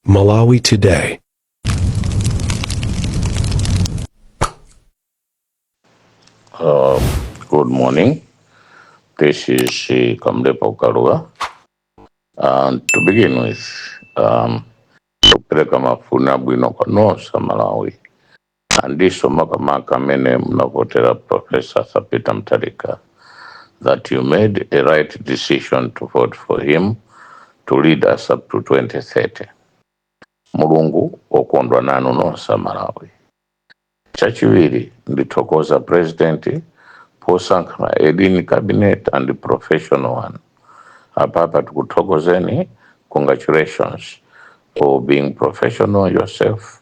Malawi Today. Um, good morning. This is uh, Kamlepo Kalua. And to begin with, um, kupeleka mafuna bwino kwa nonse Malawi. Andiso makamaka amene munavotera Prof Arthur Peter Mutharika that you made a right decision to vote for him to lead us up to 2030. Mulungu wokondwa nanu nonse Malawi. Chachiwiri ndithokoza president posankha a lean cabinet and professional one. Apapa tikuthokozeni congratulations for being professional yourself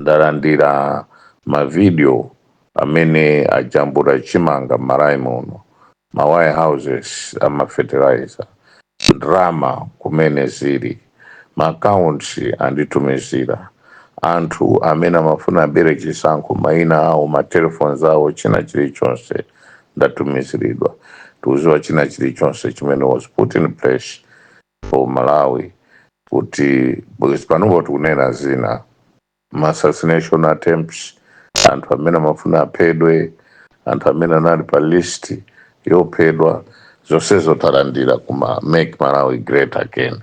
ndalandira ma video amene ajambula chimanga m'Malawi muno ma warehouses ama fertilizer ndrama kumene zili ma accounts anditumizira anthu amene amafuna abere chisankho maina awo ma telephones awo china chilichonse ndatumiziridwa tikuziwa china chilichonse chimene was put in place for Malawi kuti because panopo tikunena zina ma assassination attempts anthu amene amafuna aphedwe anthu amene anali pa list yophedwa zonsezo talandira ku Make Malawi Great Again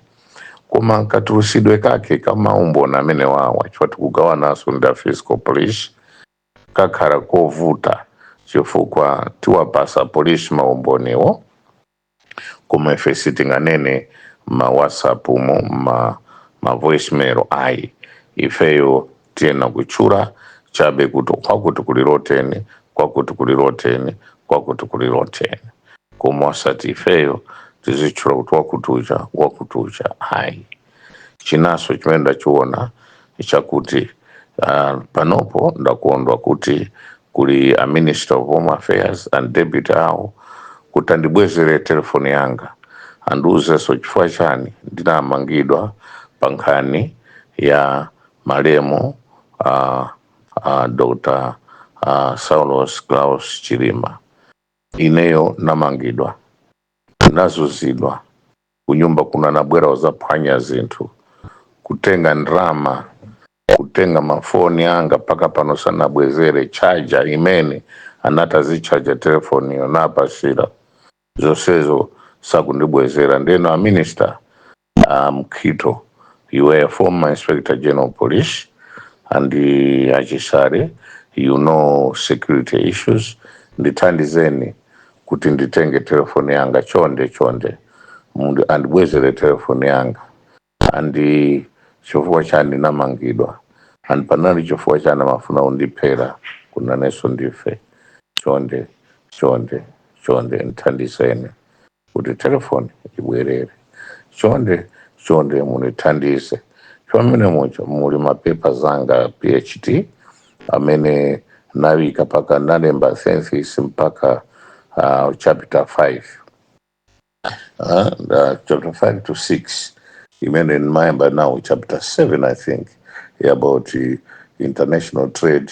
koma katulusidwe kake ka maumboni amenewawa chifukwa tikugawananso ndi a fiscal police kakhala kovuta chifukwa tiwapasa polisi maumboniwo koma ife sitinganene ma WhatsApp mu ma, ma voicemail ayi ifeyo tiyena kutchula chabe kuti kwakuti kuli loteni kwakuti kuli loteni kwakuti kuli loteni koma osati ifeyo tizitchula kuti wakuticha wakuticha ayi Chinanso chimene ndachiona chakuti uh, panopo ndakondwa kuti kuli a Minister of Home Affairs and Deputy awo kuti andibwezere telefoni yanga andiuzenso chifukwa chani ndinamangidwa pa nkhani ya malemu uh, uh, Dr. Uh, Saulos Klaus Chilima. Ineyo namangidwa nazuzidwa kunyumba kuno anabwera kuzaphwanya zinthu kutenga ndrama kutenga mafoni anga mpaka pano sanabwezere chaja imene anati azichaja telefoniyo napasira zonsezo sakundibwezera ndeno a minister a Mukhito you were a former inspector general police and uh, a Chisale you know security issues ndithandizeni kuti nditenge telefoni yanga chonde chonde mundu andibwezere telefoni yanga and chifukwa chani ndinamangidwa and panali chifukwa chani amafuna undiphera ku Lunenso Ndife chonde chonde chonde ndithandizeni kuti telefoni ibwerere chonde chonde munithandize chomene mucho muli mapepa zanga PhD amene nawika paka nalemba thesis mpaka uh, chapter 5 uh, uh, chapter 5 to 6 imene ndimayamba na chapter 7 i think about uh, international trade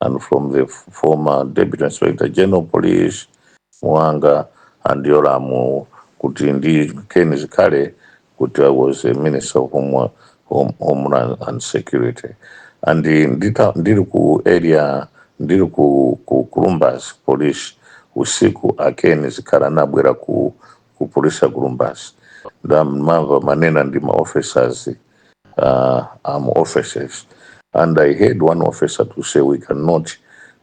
and from the f- former Deputy Inspector General Police Mwanga andi Yolamu kuti ndi Ken Zikhale kuti I was a Minister of Home, Home, Homeland and Security and ndita, ndili ku area ndili ku, ku Columbus Police usiku a Ken Zikhale anabwera ku ku polisi ya kulumbasi nda mava manena ndi ma officers uh, arm officers and i heard one officer to say we cannot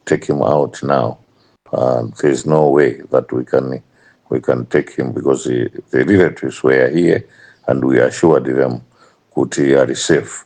take him out now uh, there is no way that we can we can take him because the, the relatives were here and we assured them kuti ali safe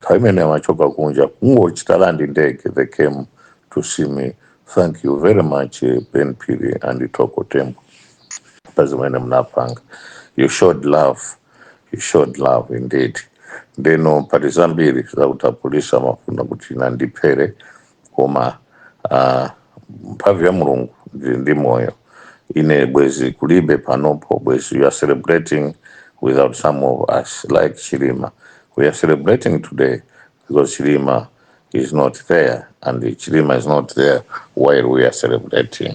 nthawi imene amachoka kunja kungochita land ndege they came to see me thank you very much eh, Ben Phiri and Thoko Tembo pa zimene mnapanga you showed love you showed love indeed ndeno pali zambiri zakuti apolisi amafuna kuti andiphere koma uh, mphamvu ya mulungu ndili ndi moyo ine bwezi kulibe panopo bwezi you are celebrating without some of us like Chilima we are celebrating today because Chilima is not there and Chilima is not there while we are celebrating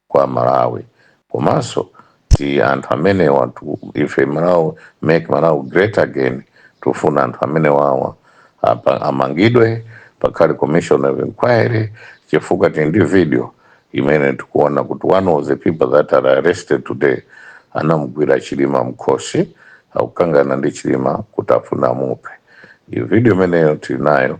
kwa Malawi komanso ti anthu amenewatu, if Malawi make Malawi great again tufuna anthu amenewawa apa- amangidwe pakhale commission of inquiry chifukwa tili ndi video imene tikuona kuti one of the people that are arrested today anamugwira Chilima mkhosi akukangana ndi Chilima kuti afuna amuphe. Iyo video imeneyo tili nayo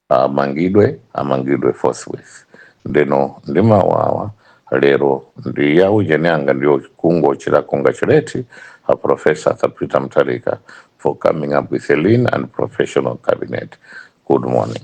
amangidwe amangidwe forthwith ndeno ndi mawu awa lero ndi ya ujeni anga ndiyo kungochita congratulate a professor Arthur Peter Mutharika for coming up with a lean and professional cabinet good morning